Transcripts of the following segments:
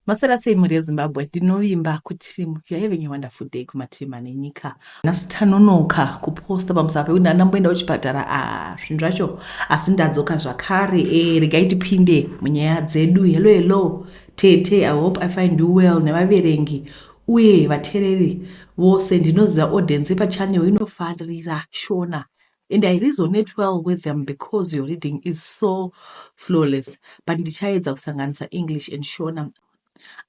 Masera sei mhuri yezimbabwe ndinovimba kuti you're having a wonderful day kumativi mane nyika nhasi tanonoka kuposta pamusava pekuti ndanga ndamboenda kuchipatara a ah, zvinhu zvacho asi ndadzoka zvakare e eh, regai tipinde munyaya dzedu hello hello tete i hope i find you well nevaverengi uye vatereri vose ndinoziva audience yepachanel inofarira shona and i resonate well with them because your reading is so flawless but ndichaedza kusanganisa english and shona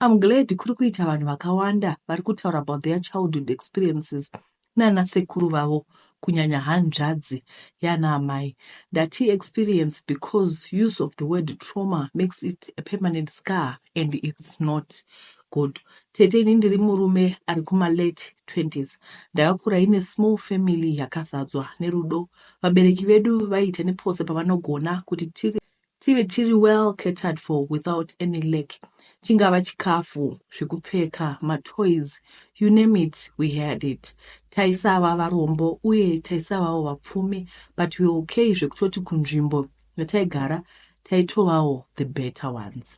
i'm glad kuri kuita vanhu vakawanda vari kutaura about their childhood experiences nana sekuru vavo kunyanya hanzvadzi yana amai ndati experience because use of the word trauma makes it a permanent scar and it's not Good tete ini ndiri murume ari kuma late 20s ndakakura ine small family yakazadzwa nerudo vabereki vedu vaiita nepose pavanogona kuti tiri tive tiri well catered for without any lack chingava chikafu zvekupfeka matoys you name it we had it taisava varombo uye taisavawo vapfumi but we okay zvekutoti kunzvimbo yataigara taitovawo the better ones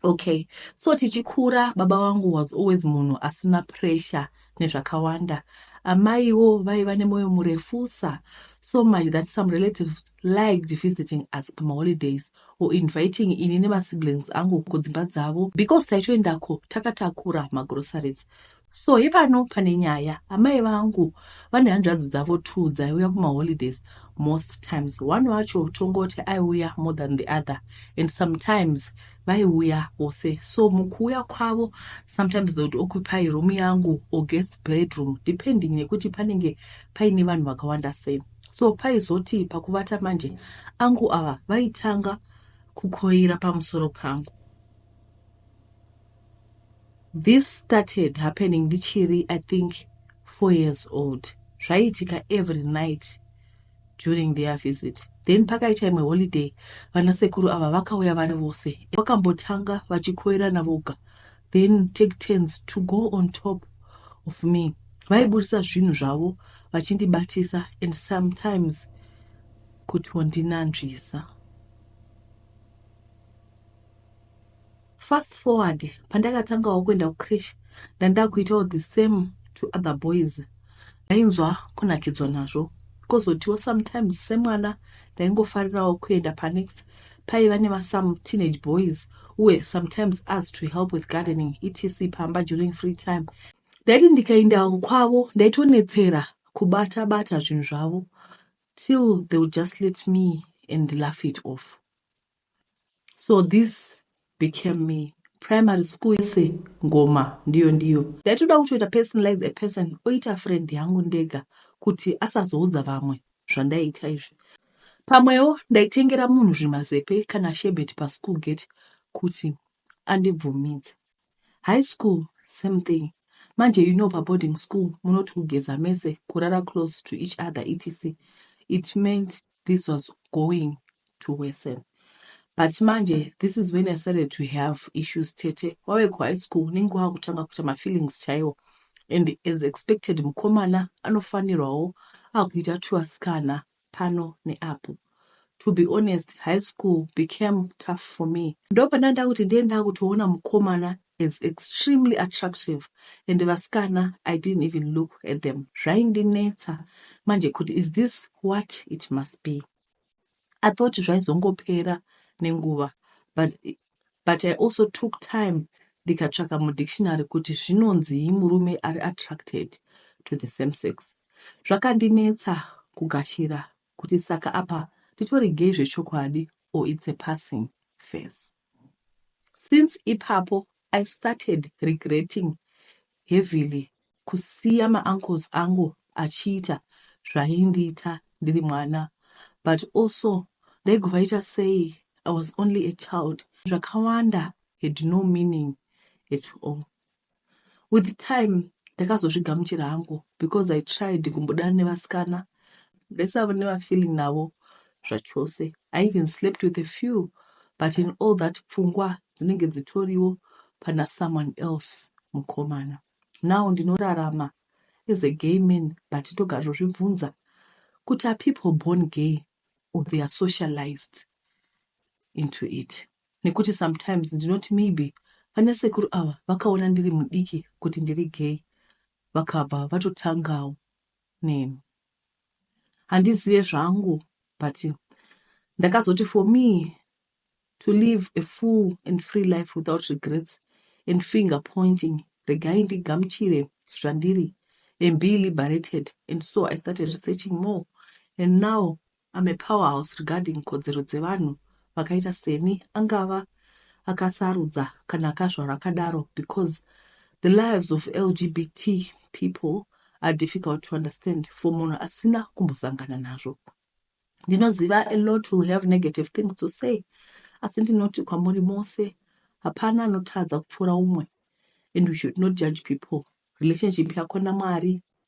Okay, so tichikura baba wangu was always munhu asina pressure nezvakawanda. Amaiwo vaiva nemoyo murefusa so much that some relatives liked visiting us pamaholidays or inviting ini nemasiblings angu kudzimba dzavo because taitoendako takatakura magroceries So ipano pane nyaya. Amai vangu vane hanzvadzi dzavo two dzaiuya kumaholidays most times. One wacho tongoti aiuya more than the other and sometimes vaiuya vose. So mukuuya kwavo sometimes they would occupy room yangu or guest bedroom depending nekuti panenge paine vanhu vakawanda sei. So paizoti pakuvata manje angu ava vaitanga kukoira pamusoro pangu. This started happening ndichiri I think four years old zvaiitika every night during their visit then pakaita imwe holiday vanasekuru ava vakauya vari vose vakambotanga vachikoirana voga then take turns to go on top of me vaiburitsa zvinhu zvavo vachindibatisa and sometimes kutondinanzvisa Fast forward pandakatangawo kuenda kucreche ndandakuitawo the same to other boys ndainzwa kunakidzwa nazvo kozotiwo sometimes semwana ndaingofarirawo kuenda panext paiva nemasome teenage boys uye sometimes as to help with gardening etc pamba during free time ndaiti ndikaendawo kwavo ndaitonetsera kubata bata zvinhu zvavo till they would just let me and laugh it off so this became me primary school yese ngoma ndiyo ndiyo ndaitoda kutoita personalize a person oita friend yangu ndega kuti asazoudza vamwe zvandaiita izvi pamwewo ndaitengera munhu zvimazepe kana shebet paschool gate kuti andibvumidze high school same thing manje you know paboarding school munoti kugeza mese kurara close to each other etc it meant this was going to worsen but manje this is when i started to have issues tete wave kuhigh school unenge wava kutanga kuita mafeelings chaiwo and as expected mukomana anofanirwawo akuita tuasikana pano neapo to be honest high school became tough for me ndopanda ndakuti ndiye ndakutoona mukomana is extremely attractive and vasikana I didn't even look at them zvaindinetsa manje kuti is this what it must be. I thought zvaizongopera nenguva but, but I also took time ndikatsvaka mudictionary kuti zvinonzii murume ari attracted to the same sex zvakandinetsa kugashira kuti saka apa titori gay zvechokwadi or its a passing face Since ipapo I started regretting heavily kusiya mauncles angu achiita zvaindiita ndiri mwana but also ndaigvaita sei I was only a child zvakawanda had no meaning at all. With time ndakazozvigamuchira hangu because I tried kumbodana nevasikana ndisava nevafeeling navo zvachose. I even slept with a few but in all that pfungwa dzinenge dzitoriwo pana someone else mukomana. Now ndinorarama as a gay man but ndogara zvozvibvunza kuti are people born gay or they are socialized into it. nekuti sometimes ndinoti maybe vana sekuru ava vakaona ndiri mudiki kuti ndiri gay vakabva vatotangawo neni handizive zvangu but ndakazoti for me to live a full and free life without regrets and finger pointing regai ndigamuchire zvandiri and be liberated and so i started researching more and now I'm a powerhouse regarding kodzero dzevanhu vakaita seni angava akasarudza kana akazvarwa akadaro because the lives of lgbt people are difficult to understand for munhu asina kumbosangana nazvo ndinoziva a lot will have negative things to say asi ndinoti kwamuri mose hapana anotadza kupfuura umwe and we should not judge people relationship yako namwari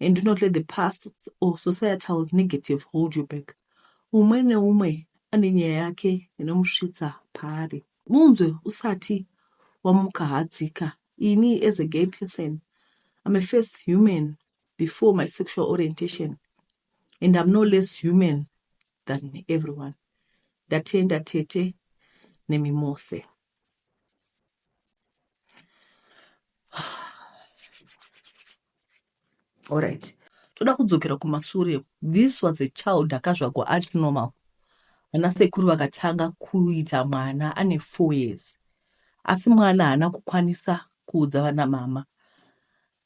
and do not let the past or societal negative hold you back umwe neumwe ane nyaya yake inomusvitsa paari munzwe usati wamuka hadzika ini as a gay person i'm a first human before my sexual orientation and i'm no less human than everyone ndatenda tete nemimose Alright. Toda kudzokera kumasure. This was a child akazvagwa ari normal. Ana sekuru vakatanga kuita mwana ane 4 years. Asi mwana haana kukwanisa kuudza vana mama.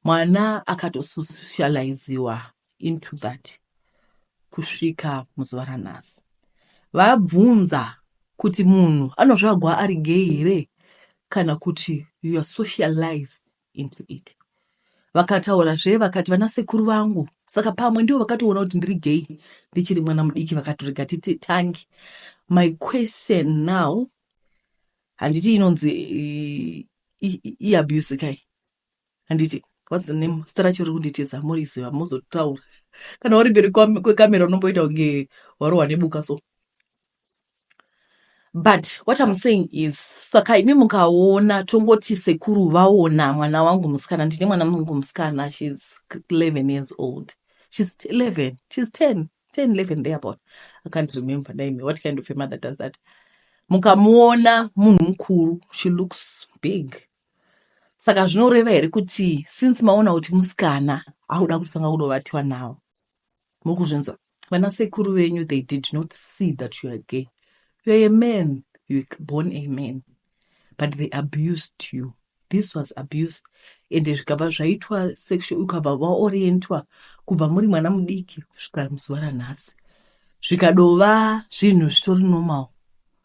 Mwana akatosocializiwa into that kusvika muzuva ranhasi. Vabvunza kuti munhu anozvagwa ari gay here kana kuti you are socialized into it. Vakataura zve vakati vana sekuru vangu saka pamwe ndivo vakatoona kuti ndiri gay ndichiri mwana mudiki vakatorega titi tangi. My question now handiti inonzi iabuse kai handiti what's the name zita racho riri kunditiza moriziva mozotaura kana uri mberi kwekamera unomboita kunge warohwa nebuka so but what im saying is saka imi mukaona tongoti sekuru vaona mwana wangu musikana ndine mwana wangu musikana shes 11 years old shes 11 shes 10 10 11 there about i can't remember name what kind of a mother does that mukamuona munhu mukuru she looks big saka zvinoreva here kuti since maona kuti musikana akuda kutanga kudovatiwa nawo mukuzvinzwa vana sekuru venyu they did not see that you are gay you are a man you are born a man but they abused you this was abuse ende zvikabva zvaitwa sexual ukabva vaorientwa kubva muri mwana mudiki kusvika muzuva ranhasi zvikadova zvinhu zvitori normal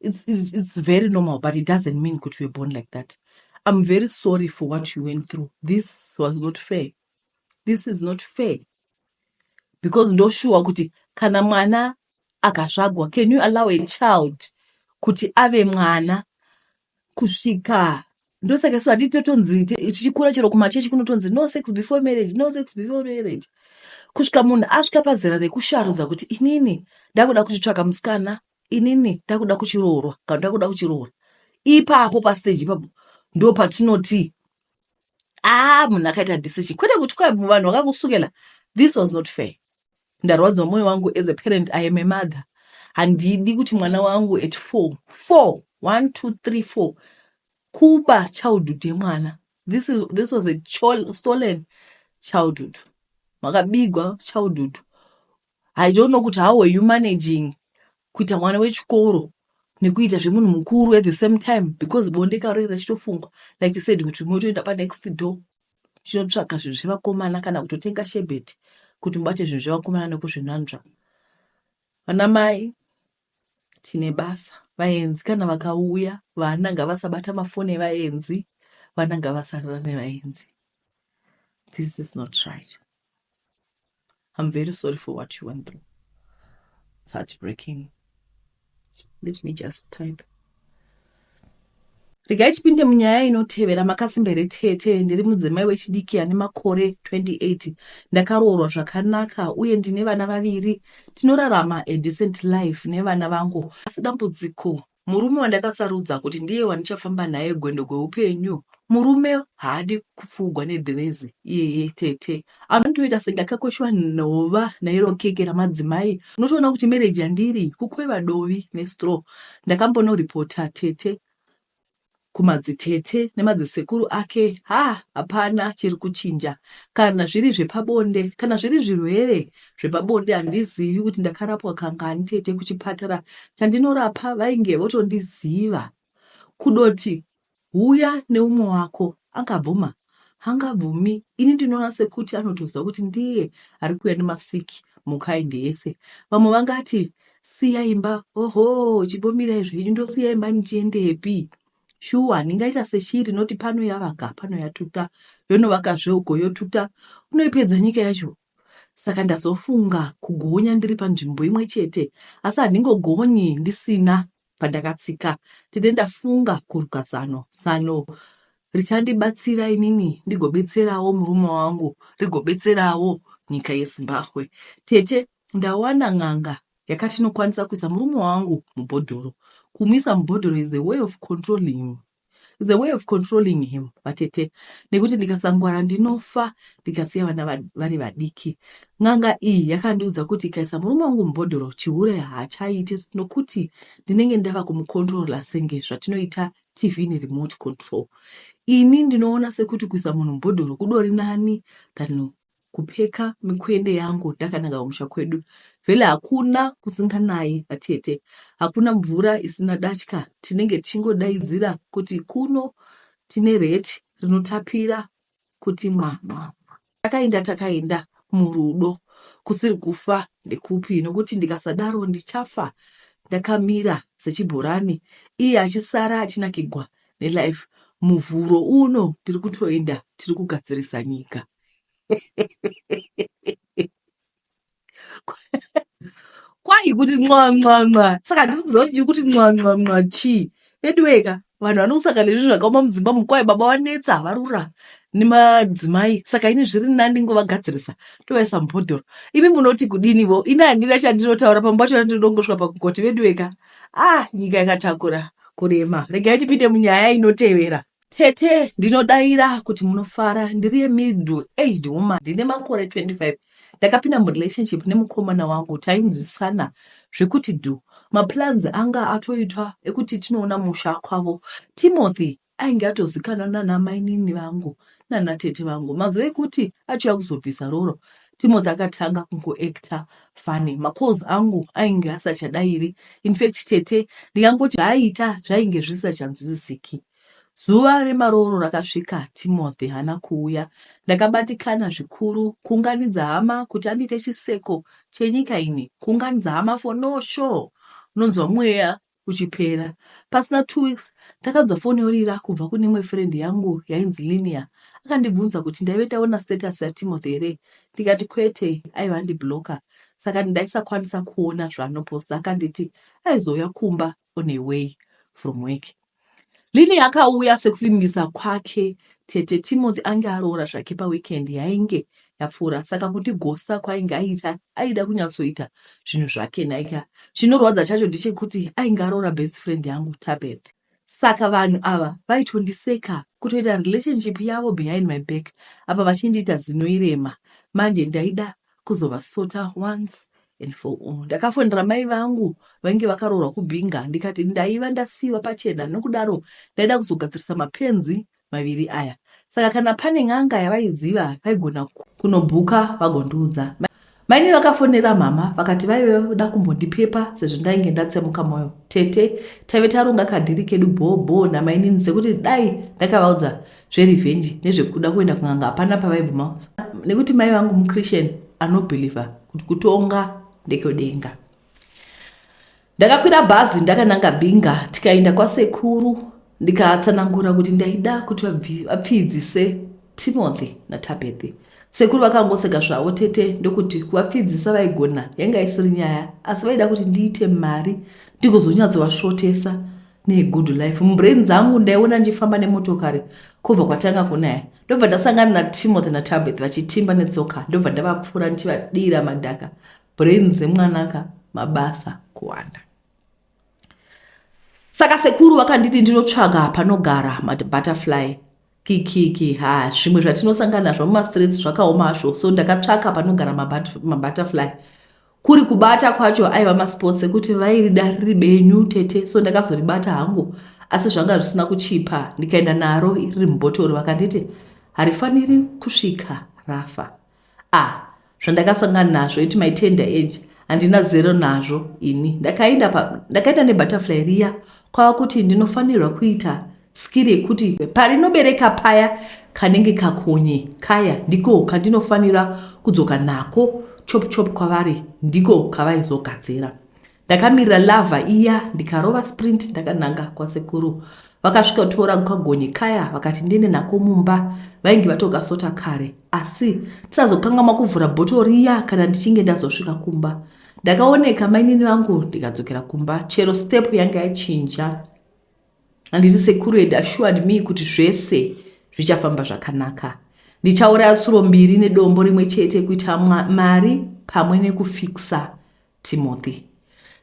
it's, it's, it's very normal but it doesn't mean kuti you're born like that i'm very sorry for what you went through this was not fair this is not fair because ndoshuwa kuti kana mwana akasvagwa can you allow a child kuti ave mwana kusvika ndosaka so handiti totonzi tichikura chero kumachechi kunotonzi no sex before marriage no sex before marriage kusvika munhu asvika pazera rekusharudza kuti inini ndakuda kutitsvaka musikana inini takuda kuchiroorwa kana takuda kuchiroora ipapo pastage ipapo ndo patinoti aa ah, munhu akaita decision kwete kuti kwa vanhu vakakusukela this was not fair ndarwadziwa moyo wangu as a parent i am a mother handidi kuti mwana wangu at four four one two three four kuba childhood yemwana this, is, this was a stolen childhood makabigwa childhood I don't know kuti how were you managing kuita mwana wechikoro nekuita zvemunhu mukuru at the same time because bonde karo iri rachitofungwa like you said kuti motoenda panext door chinotsvaga zvinhu zvevakomana kana kutotenga shebeti kuti mubate zvinhu zvevakomana nekuzvinanzva vana mai tine basa vaenzi kana vakauya vana ngavasabata mafoni evaenzi vana ngavasarira nevaenzi this is not right I'm very sorry for what you went through. It's heartbreaking. Let me just type. regai tipinde munyaya inotevera makasimba here tete ndiri mudzimai wechidiki ane makore 28 ndakaroorwa zvakanaka uye ndine vana vaviri tinorarama adecent life nevana vangu asi dambudziko Murume wandakasarudza kuti ndiye wandichafamba naye gwendo gweupenyu. Murume haadi kupfugwa nedhirezi iyeye tete. Anotoita senge akakoshwa nhova nairo keke ramadzimai. Unotoona kuti mereji yandiri kukweva dovi nestraw. Ndakambonoripota tete kumadzitete nemadzisekuru ake haa hapana chiri kuchinja kana zviri zvepabonde kana zviri zvirwere zvepabonde handizivi kuti ndakarapwa kangani tete kuchipatara chandinorapa vainge votondiziva kudoti huya neumwe wako angabvuma Hangabvumi ini ndinoona sekuti anotoziva kuti ndiye ari kuuya nemasiki mukaindi yese. Vamwe vangati siya imba, oho chibomirai zvenyu ndosiya imba ndichiendepi? Shuwa ndingaita seshiri noti pano yavaka pano yatuta yonovakazve uko yotuta unoipedza nyika yacho saka ndazofunga kugonya ndiri panzvimbo imwe chete asi handingogonyi ndisina Pandakatsika tete ndafunga kuruka zano zano richandibatsira inini ndigobetserawo murume wangu rigobetserawo nyika yezimbabwe tete ndawana n'anga yakati inokwanisa kuisa murume wangu mubhodhoro kumuisa mubhodhoro is a way of controlling him is a way of controlling him vatete nekuti ndikasangwara ndinofa ndikasiya vana vari vadiki n'anga iyi yakandiudza kuti ikaisa murume wangu mubhodhoro chihure haachaite nokuti ndinenge ndava kumukontrola senge zvatinoita tv neremote control ini ndinoona sekuti kuisa munhu mubhodhoro kudori nani than kupfeka mikwende yangu ndakananga kumusha kwedu vele hakuna kusinganayi vatete hakuna mvura isina datya tinenge tichingodaidzira kuti kuno tine reti rinotapira kuti mwana takaenda takaenda murudo kusiri kufa ndekupi nokuti ndikasadaro ndichafa ndakamira sechibhorani iye achisara achinakigwa nelife muvhuro uno tiri kutoenda tiri kugadzirisa nyika kwai kuti nwanwanwa saka handisi kuziva kuti chiri kuti nwanwanwa chii veduweka vanhu vanokusaka nezvi zvakaoma mudzimba mukwai baba vanetsa havarura nemadzimai saka ini zviri nani ngovagadzirisa tovaisa mubhodhoro imi munoti kudinivo ini handina chandinotaura pamba chona ndinodongosvika pakugoti veduweka ah nyika yakatakura kurema regai tipinde munyaya inotevera Tete ndinodaira kuti munofara ndiri middle aged woman ndine makore 25 ndakapinda murelationship nemukomana wangu tainzwisana zvekuti dhu maplans anga atoitwa ekuti tinoona musha kwavo timothy ainge atozikanwa nana mainini vangu nana tete vangu mazuva ekuti achiuya kuzobvisa roro timothy akatanga kungoacta fani macalls angu ainge asachadairi infact tete ndikangoti zvaaita zvainge zvisisachanzwisisiki Zuva remarooro rakasvika Timothy haana kuuya. Ndakabatikana zvikuru. Kuunganidza hama kuti andiite chiseko chenyika ini. Kuunganidza hama for no show. Unonzwa mweya uchipera. Pasina two weeks ndakanzwa foni yorira kubva kune imwe friend yangu yainzi Linia. Akandibvunza kuti ndaive ndaona status yaTimothy here ndikati kwete aiva andiblocker saka ndaisakwanisa kuona zvaanoposta. Akanditi aizouya kumba on her way from work lily akauya sekuvimbisa kwake tete timothy ange aroora zvake paweekend yainge yapfuura saka kuti gosa kwainge aita aida kunyatsoita zvinhu zvake naika chinorwadza chacho ndechekuti ainge aroora best friend yangu tabeth saka vanhu ava vaitondiseka kutoita relationship yavo behind my back apa vachindiita zinoirema manje ndaida kuzovasota once and for all ndakafonera mai vangu vainge vakaroorwa kubinga ndikati ndaiva ndasiiwa pachena nokudaro ndaida kuzogadzirisa mapenzi maviri aya saka kana pane n'anga yavaiziva vaigona kunobhuka vagondiudza maini vakafonera mhama vakati vaive voda kumbondipepa sezvo ndainge ndatsemuka mwoyo tete taive taronga kadhiri kedu bhoo bhoo namainini sekuti dai ndakavaudza zverevenge nezvekuda kuenda kun'anga hapana pavaibvuma nekuti mai vangu muchristian anobhilivha kuti kutonga ndekwedenga ndakakwira bhazi ndakananga binga tikaenda kwasekuru ndikatsanangura kuti ndaida kuti vapfidzise timothy natabethy sekuru vakangoseka zvavo tete ndokuti kuvapfidzisa vaigona yanga isiri nyaya asi vaida kuti ndiite mari ndikuzonyatsovasvotesa negood life mubrain dzangu ndaiona ndichifamba nemotokari kubva kwatanga kunaya ndobva ndasangana natimothy natabeth vachitimba netsoka ndobva ndavapfuura ndichivadira madhaka brain dzemwanaka mabasa kuwanda saka sekuru vakanditi ndinotsvaga panogara mabutterfly Kikiki haa zvimwe zvatinosangana nazvo mumastreets zvakaoma hazvo so ndakatsvaka panogara mabutterfly kuri kubata kwacho aiva masports ekuti vairida riri benyu tete so ndakazoribata hangu asi zvanga zvisina kuchipa ndikaenda naro riri mubhotoro vakanditi harifaniri kusvika rafa Ah zvandakasangana nazvo at my tender age handina zero nazvo ini. Ndakaenda pa ndakaenda ne butterfly riya kwava kuti ndinofanirwa kuita skill yekuti parinobereka paya kanenge kakonye kaya ndiko kandinofanira kudzoka nako chop chop kwavari ndiko kavaizogadzira. Ndakamirira lava iya ndikarova sprint ndakananga kwasekuru. Vakasvika kutora kagonye kaya vakati ndiende nako mumba. Vainge vatokasota kare asi tisazokangamwa kuvhura bhoto riya kana ndichinge ndazosvika kumba. Ndakaoneka mainini vangu ndikadzokera kumba chero step yange yachinja. Handiti sekuru had assured me kuti zvese zvichafamba zvakanaka. Ndichauraya tsuro mbiri nedombo rimwe chete kuita mari pamwe nekufikisa Timothy.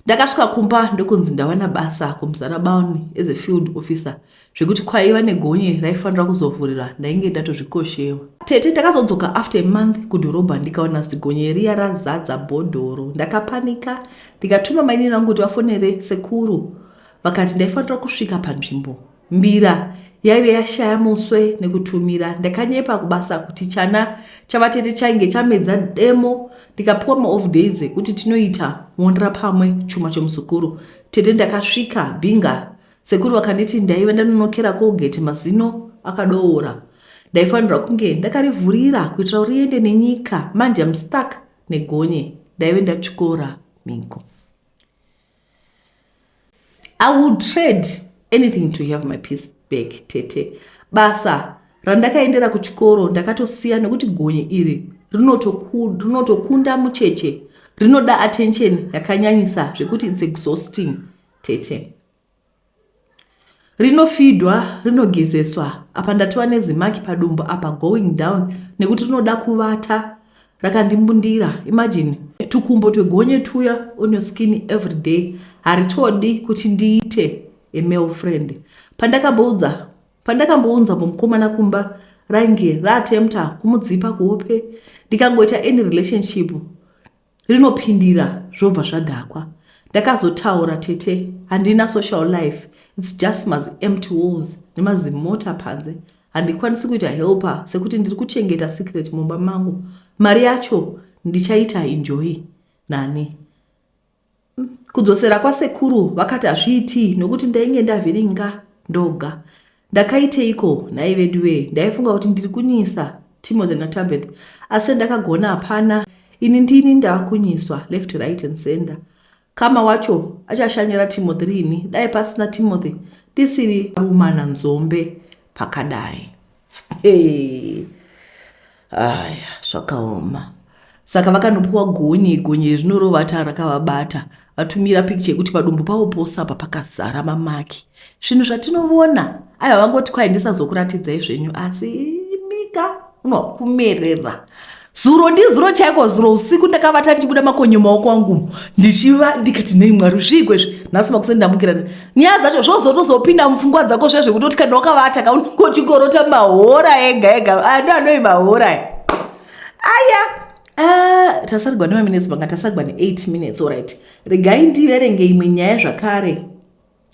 Ndakasvika kumba ndokunzi ndawana basa kuMzara Bown as a field officer zvekuti kwaiva negonye raifanira kuzovhurira ndainge ndatozvikoshewa. Tete takazodzoka after a month kudhorobha ndikawana zigonye riya razadza bhodhoro. Ndakapanika ndikatuma mainini vangu kuti vafonere sekuru vakati ndaifanira kusvika panzvimbo. Mbira yaive yashaya muswe nekutumira. Ndakanyepa kubasa kuti chana chavatete chainge chamedza demo ndikapiwa maoff days ekuti tinoita muonera pamwe chuma chomuzukuru. Tete ndakasvika binga sekuru vakanditi ndaive ndanonokera Colgate mazino akadoora. Ndaifanirwa kunge ndakarivhurira kuitira kuti riende nenyika manje I'm stuck negonye ndaive ndatyora mhiko. i would trade anything to have my peace back tete basa randakaendera kuchikoro ndakatosiya nekuti gonye iri rinotokunda mucheche rinoda attention yakanyanyisa zvekuti its exhausting tete Rinofidwa rinogezeswa apa ndatova nezimaki padumbu apa going down nekuti rinoda kuvata rakandimbundira imagine tukumbo twegonye twuya on your skin everyday haritodi kuti ndiite a male friend pandakamboudza pandakambounza mukomana kumba rainge raatempta kumudzipa kuhope ndikangoita any relationship rinopindira zvobva zvadhakwa ndakazotaura tete handina social life its just mazi empty walls nemazimota panze handikwanisi kuita helper sekuti ndiri kuchengeta secret mumba mangu mari yacho ndichaita enjoy nani Kudzosera kwasekuru vakati hazviitii nokuti ndainge ndavhiringa ndoga. Ndakaiteiko nhai veduwee ndaifunga kuti ndiri kunyisa Timothy naTabeth asi chandakagona hapana ini ndini ndakunyiswa left right and center. Kama wacho achashanyira Timothy riini dai pasina Timothy ndisiri kuumana nzombe pakadai. Hey. Aya, zvakaoma. Saka vakanopuwa gonye, gonye iri rinorova taa rakavabata. Vatumira picture yekuti padumbu pavo pose apa pakazara mamaki. Zvinhu zvatinovona. Aiwa vangoti kwai ndisazokuratidzai zvenyu asi imika unokumerera. zuro ndizuro chaiko zuro usiku ndakavata ndichibuda makonyo maoko angu ndichiva ndikati nei mwari zviiko izvi nhasi makuseni ndamukira nyaya dzacho zvozotozopinda mupfungwa dzako zve zvekutoti kana wakavata ka unenge uchingorota mahora ega ega ano anoi mahora aya ah, tasarigwa nemaminutes vanga tasarigwa ne8 minutes orit regai ndiverenge imwe nyaya zvakare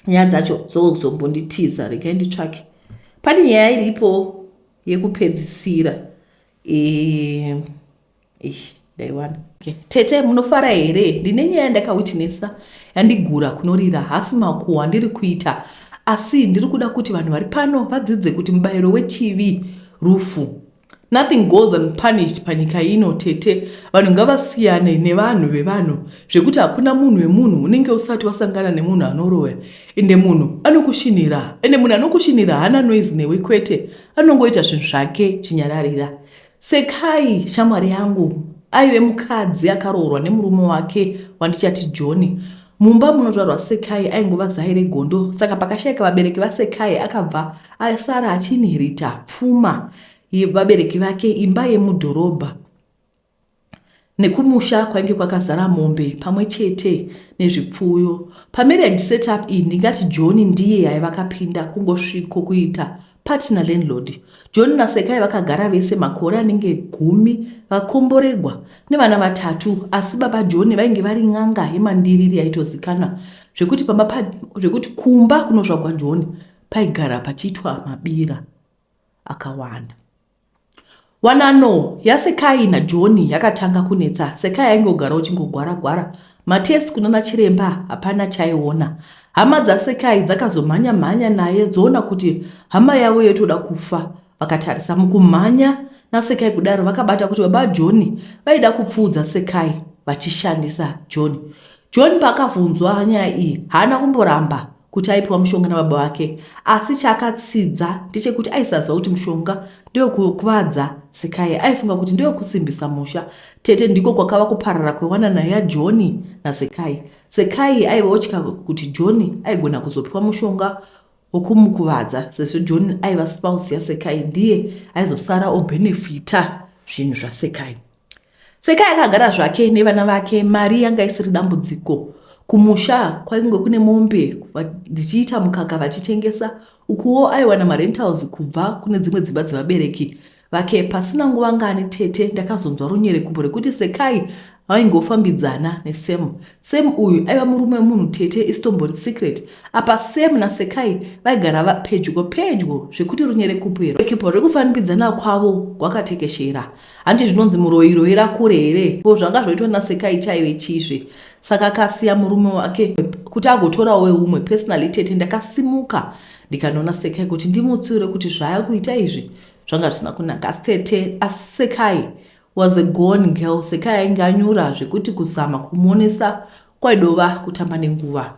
nyaya dzacho dzozombonditiza regai nditsvake pane nyaya iripo yekupedzisira Eh, ish, ndaiwana. Okay. Tete munofara here? Ndine nyaya yandakawitnessa yandigura kunorira hasi makuhwa andiri kuita asi ndiri kuda kuti vanhu vari pano vadzidze kuti mubayiro wechivi rufu. Nothing goes unpunished panyika ino tete. Vanhu ngavasiyane nevanhu vevanhu zvekuti hakuna munhu wemunhu unenge usati wasangana nemunhu anoroya ende munhu anokushinira ende munhu anokushinira haana noise newe kwete anongoita zvinhu zvake chinyararira sekai shamwari yangu aive mukadzi akaroorwa nemurume wake wandichati johni mumba munozvarwa sekai aingova zai regondo saka pakashaika vabereki vasekai akabva asara achiinherita pfuma yevabereki vake imba yemudhorobha nekumusha kwainge kwakazara mombe pamwe chete nezvipfuyo. Pamarriage setup iyi ndingati John ndiye aiva akapinda kungosviko kuita partner landlord. John naSekai vakagara vese makore anenge gumi vakomboregwa nevana vatatu asi baba John vainge vari n'anga yemandiriri yaitozikanwa zvekuti pamba pa, zvekuti kumba kunozvagwa John paigara pachiitwa mabira akawanda. Wanano yaSekai naJoni yakatanga kunetsa. Sekai ainge ogara uchingogwara-gwara. Matesi kunana chiremba hapana chaiona. Hama dzaSekai dzakazomhanya-mhanya naye dzoona kuti hama yavo yotoda kufa. Vakatarisa mukumhanya naSekai kudaro vakabata kuti baba Joni vaida kupfuudza Sekai vachishandisa Joni. Joni paakavhunzwa nyaya iyi haana kumboramba. kuti aipiwa mushonga nababa vake asi chaakatsidza ndechekuti aisaziva kuti mushonga ndewekukuvadza Sekai. Aifunga kuti ndewekusimbisa musha tete ndiko kwakava kuparara kwewanana yaJoni naSekai. Sekai aiva otya kuti Joni aigona kuzopiwa mushonga wekumukuvadza sezvo Joni aiva spouse yaSekai ndiye aizosara obenefita zvinhu zvaSekai. Sekai akagara zvake nevana vake mari yanga isiri dambudziko. Kumusha kwainge kune mombe dzichiita mukaka vachitengesa ukuwo aiwana marentals kubva kune dzimwe dzimba dzevabereki vake. Pasina nguva ngani tete ndakazonzwa runyerekupo rekuti Sekai vaingofambidzana nesem sem uyu aiva murume wemunhu tete isitombori secret apa sem nasekai vaigara vapedyo pedyo zvekuti runyerekupo rekufanbidzana kwavo gwakatekeshera Hanti zvinonzi muroyi roira kure here ko zvanga zvoitwa naSekai chaive chiizve saka akasiya murume wake kuti agotorawo weumwe personally tete ndakasimuka ndikanoona Sekai kuti ndimutsiure kuti zvaya kuita izvi zvanga zvisina kunaka asi tete asi Sekai was a gone girl Sekai ainge anyura zvekuti kuzama kumuonesa kwaidova kutamba nenguva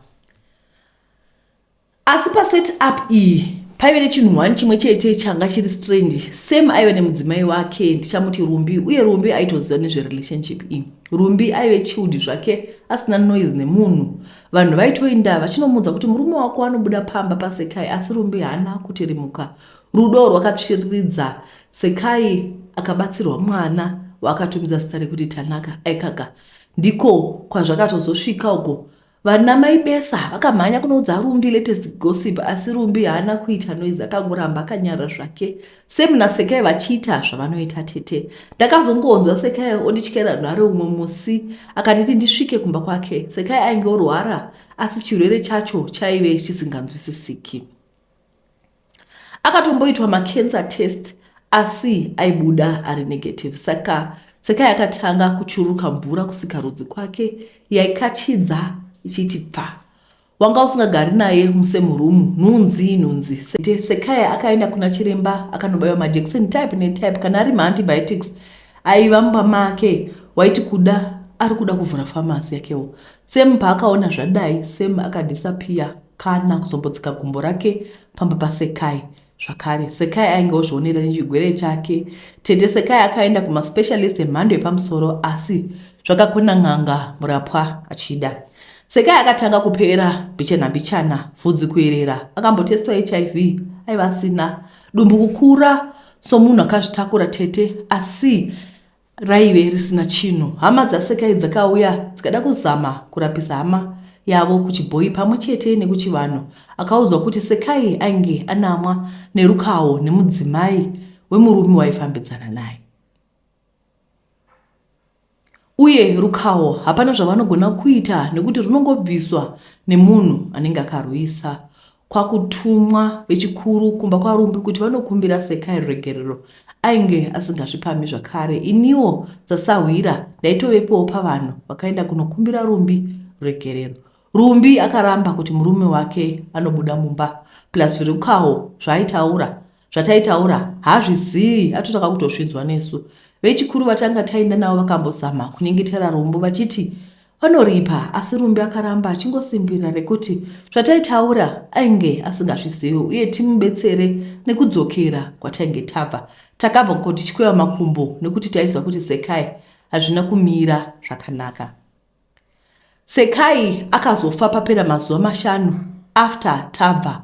Asi pa set up iyi paive nechinhu one chimwe chete changa chiri strange same aive nemudzimai wake ndichamuti rumbi uye rumbi aitoziva nezverelationship iyi rumbi aive chiudi zvake asina noise nemunhu vanhu vaitoinda vachinomuudza kuti murume wako anobuda pamba pasekai asi rumbi haana kuti rimuka rudo rwakatsviriridza sekai akabatsirwa mwana waakatumidza zita rekuti tanaka aikaka ndiko kwazvakatozosvika uko Vana mai Besa vakamhanya kunoudza Rumbi latest gossip asi Rumbi haana kuita noise akangoramba akanyara zvake same naSekai vachiita zvavanoita tete. Ndakazongonzwa Sekai ondityera nhare umwe musi akanditi ndisvike kumba kwake. Sekai ainge orwara asi chirwere chacho chaive chisinganzwisisiki. akatomboitwa macancer test asi aibuda ari negative saka tseka yakatanga kuchururuka mvura kusikarudzi kwake yaikachidza ichiti pfa wanga usingagari naye musame room nhunzi nhunzi sete sekaya akaenda kuna chiremba akanobaiwa majekiseni type netype kana ari maantibiotics aiva mumba make waiti kuda ari kuda kuvhura famasi yakewo Sam paakaona zvadai Sam akadisappear kana kuzombotsika gumbo rake pamba paSekai zvakare. Sekai ainge ozvionera nechigwere chake. Tete Sekai akaenda kumaspecialist emhando yepamusoro asi zvakakona n'anga murapwa achida. Sekai akatanga kupera mbichana mbichana, vhudzi kuerera, akambotestwa hiv aiva asina, dumbu kukura somunhu akazvitakura tete asi raive risina chinhu. Hama dzaSekai dzakauya dzikada kuzama kurapisa hama yavo kuchibhoyi pamwe chete nekuchivanhu. Akaudzwa kuti Sekai ainge anamwa nerukawo nemudzimai wemurume waifambidzana naye uye rukawo hapana zvavanogona kuita nekuti runongobviswa nemunhu anenge akarwisa. kwakutumwa vechikuru kumba kwaRumbi kuti vanokumbira Sekai ruregerero ainge asingazvipamhi zvakare. Iniwo sasahwira ndaitovepowo pavanhu vakaenda kunokumbira Rumbi ruregerero. Rumbi akaramba kuti murume wake anobuda mumba plus Rukawo zvaaitaura zvataitaura hazvizivi atotanga kutosvidzwa nesu vechikuru vatanga taenda navo vakambozama kunyengetera rombo vachiti vanoripa asi rumbi akaramba achingosimbirira rekuti zvataitaura ainge asingazvizivi uye timubetsere nekudzokera kwatainge tabva takabva kutichikweva makumbo nekuti taiziva kuti sekai hazvina kumira zvakanaka Sekai akazofa papera mazuva mashanu after tabva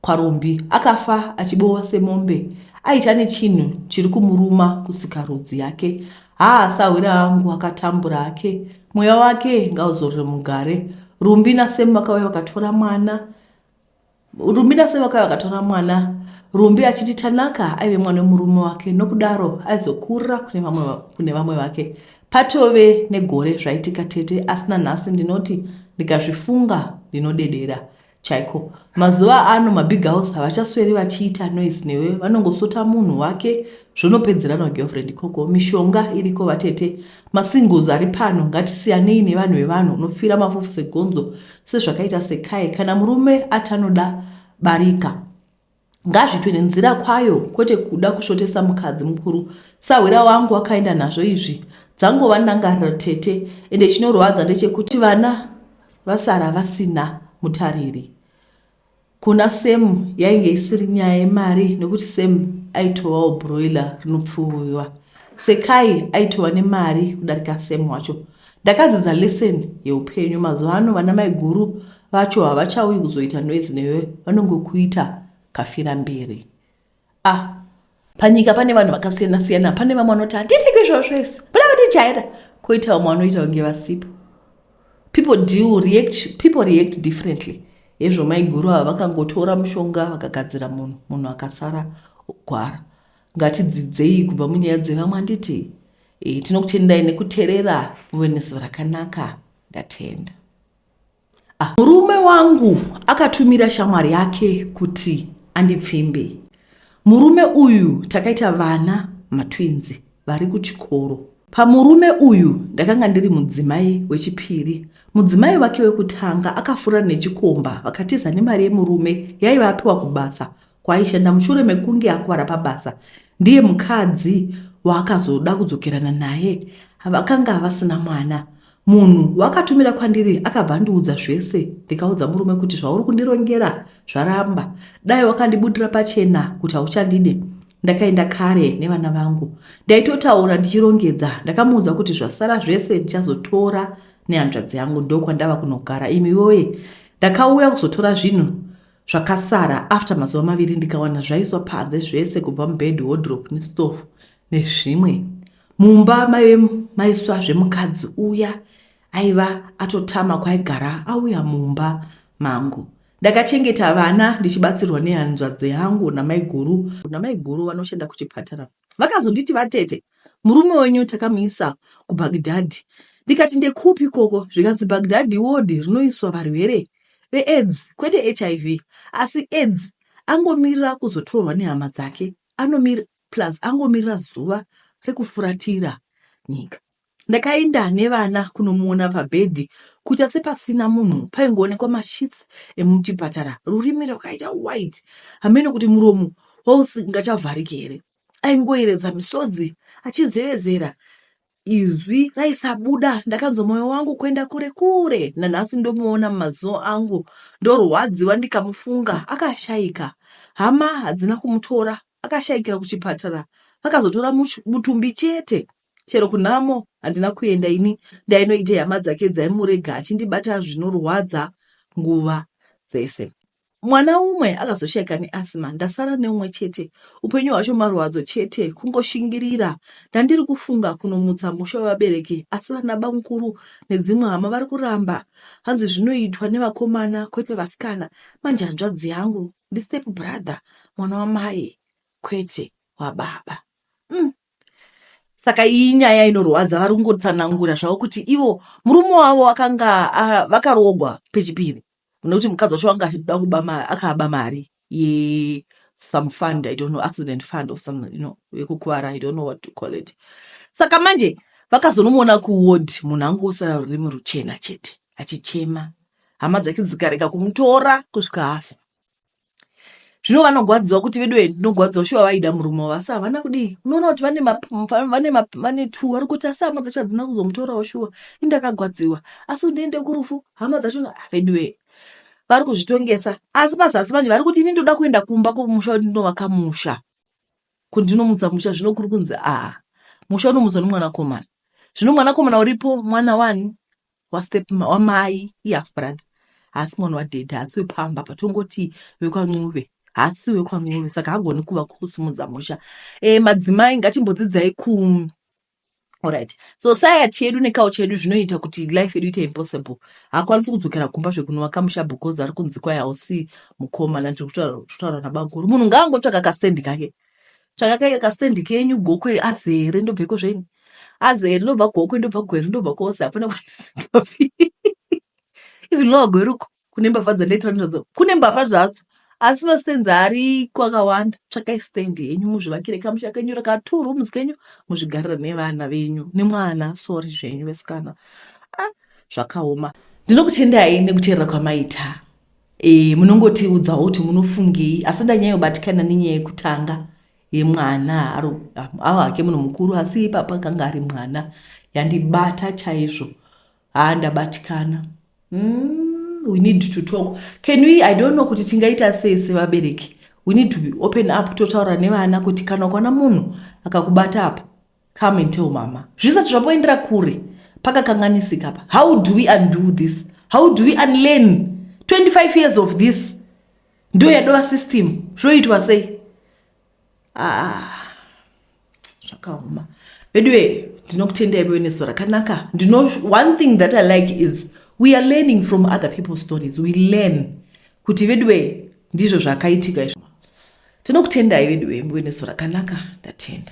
kwaRumbi. Akafa achibowa semombe aitya nechinhu chiri kumuruma kusikarudzi yake. Haa sahwira angu akatambura hake. Mweya wake ngauzorore mugare. Rumbi naSem vakauya vakatora mwana. Rumira sei wakauya akatora mwana Rumbi achiti Tanaka aive mwana wemurume wake nokudaro aizokurira kune vamwe va- kune vamwe vake patove negore zvaitika tete asina nhasi ndinoti ndikazvifunga ndinodedera chaiko mazuva ano mabig house havachasweri vachiita noise newe vanongosota munhu wake zvonopedzerana ugirlfriend ikoko mishonga iriko vatete masingles ari pano ngatisiyanei nevanhu vevanhu unofira mafufu segonzo sezvakaita Sekai kana murume ati anoda barika ngazvitwe nenzira kwayo kwete kuda kusvotesa mukadzi mukuru sahwira wangu wakaenda nazvo izvi dzangova ndangariro tete ende chinorwadza ndechekuti vana vasara vasina mutariri Kuna Sam yainge isiri nyaya yemari nekuti Sam aitovawo broiler rinopfuviwa. Sekai aitova nemari kudarika Sam wacho. Ndakadzidza lesson yeupenyu. Mazuva ano vana maiguru vacho havachauyi kuzoita noise newe vanongokuita kafiramberi. Ah, panyika pane vanhu vakasiyana siyana. Pane vamwe vanoti hatiti kwizvozvo isu. Pane vanotijaira. Koita vamwe vanoita kunge vasipo. People do react, people react differently. Hezvo maiguru ava vakangotora mushonga vakagadzira munhu, munhu akasara gwara. Ngatidzidzei kubva munyaya dzevamwe handiti? E, tinokutendai nekuterera muve nezuva rakanaka. Ndatenda. Ah, murume wangu akatumira shamwari yake kuti andipfimbe. Murume uyu takaita vana matwinzi vari kuchikoro. Pamurume uyu ndakanga ndiri mudzimai wechipiri. Mudzimai wake wekutanga akafura nechikomba vakatiza nemari yemurume yaiva apiwa kubasa kwaaishanda mushure mekunge akuvara pabasa ndiye mukadzi waakazoda kudzokerana naye vakanga vasina mwana. Munhu wakatumira kwandiri akabva andiudza zvese ndikaudza murume kuti zvauri kundirongera zvaramba dai wakandibudira pachena kuti hauchandide ndakaenda kare nevana vangu ndaitotaura ndichirongedza ndakamuudza kuti zvasara zvese ndichazotora nehanzvadzi yangu ndokwandava kunogara imi woye ndakauya kuzotora zvinhu Zvakasara after mazuva maviri ndikawana zvaiswa panze zvese kubva mubed, wardrope nestove nezvimwe. Mumba maive maiswa zvemukadzi uya aiva atotama kwaigara auya mumba mangu. Ndakachengeta vana ndichibatsirwa nehanzvadzi yangu namaiguru. Namaiguru vanoshanda kuchipatara vakazonditi vatete murume wenyu takamuisa kubagdhadhi ndikati ndekupi ikoko zvikanzi bagdhadhi wodhi rinoiswa varwere veaids kwete hiv asi aids angomirira kuzotorwa nehama dzake anomir plus angomirira zuva rekufuratira nyika Ndakaenda nevana kunomuona pabhedhi kuita sepasina munhu paingoonekwa masheets emuchipatara rurimi rwakaita white hameno kuti muromo wausingachavhariki here. Aingoyeredza misodzi achizevezera izwi raisabuda ndakanzwa moyo wangu kuenda kure kure nanhasi ndomuona mumaziso angu ndorwadziwa ndikamufunga akashaika hama hadzina kumutora akashayikira kuchipatara vakazotora much- mutumbi chete Chero kunhamo handina kuenda ini ndainoita hama dzake dzaimurega achindibata zvinorwadza nguva dzese. Mwana umwe akazoshaika neasima ndasara neumwe chete. Upenyu hwacho marwadzo chete kungoshingirira. Ndandiri kufunga kunomutsa musha wevabereki asi vana bamukuru nedzimwe hama vari kuramba. Hanzi zvinoitwa nevakomana kwete vasikana. Manje hanzvadzi yangu ndistep brother mwana wamai kwete wababa. Mm, saka iyi nyaya inorwadza vari kungotsanangura zvavo kuti ivo murume wavo akanga vakarogwa pechipiri nekuti mukadzi wacho wanga achida kuba akaaba mari ye some fund i don't know accident fund or some you know yekukuvara i don't know what to call it saka manje vakazonomuona kuward munhu angu osarari muruchena chete achichema hama dzake dzikarega kumutora kusvika afa zvino vanogwadziwa kuti vedu vedu tinogwadziwa shuwa vaida murume wavo asi havana kudii unoona kuti vane vane vane two vari kuti asi hama dzacho hadzina kuzomutorawo shuwa indakagwadziwa asi kuti ndiende kurufu hama dzacho ah, vedu vee vari kuzvitongesa asi pazasi manje vari kuti ini ndoda kuenda kumba kwomusha kuti ndinovaka musha kuti ndinomutsa musha zvino kuri kunzi aa musha unomutswa nomwanakomana zvino mwanakomana uripo mwana wani wastep wamai ihalf brother haasi mwana wadhedhi haasi wepamba patongoti vekwancuve haasi wekwancuve saka hagoni kuva kusimudza musha e, madzimai ngatimbodzidzai ku orit society yedu nekawo chedu zvinoita kuti life yedu ite impossible hakwanisi kudzokera kumba zvekunova kamusha because ari kunzi kwai hausi mukoma nandiri kutaura nabankuru munhu ngaangotsvaka kastendi kake ka tsvakakai kastendi kenyu gokwe azere ndobveko zvenyu azere ndobva gokwe ndobva gwere ndobva kose hapana kwandisikafi even lowa gweruko kune mbavha dzandaitira ndizvadzo kune mbavha zvadzo asi mastenzi ariko akawanda tsvakai stendi yenyu muzvivakire kamusha kenyu rakatur rooms kenyu muzvigarira nevana venyu nemwana sori zvenyu vesikana ah, zvakaoma ndinokutendai nekuteerera kwamaita Eh, munongotiudzawo kuti munofungei asi ndanyayobatikana nenyaya yekutanga yemwana aro ava hake munhu mukuru asi ipapa akanga ari mwana yandibata chaizvo haa ndabatikana mm, we need to talk can we i don't know kuti tingaita sei sevabereki we need to be open up totaura nevana kuti kana ukwana munhu akakubata apa Come and tell mama. Zvisati zvamboendera kure pakakanganisika apa. How do we undo this? How do we unlearn 25 years of this? Ndo yadova system. Zvoitwa sei? Ah. Zvakaoma. Veduwe, ndinokutendai vewe neso rakanaka. Ndino one thing that I like is we are learning from other people's stories. We learn kuti veduwe ndizvo zvakaitika izvo. Tinokutendai veduwe mbuwe neso rakanaka. Ndatenda.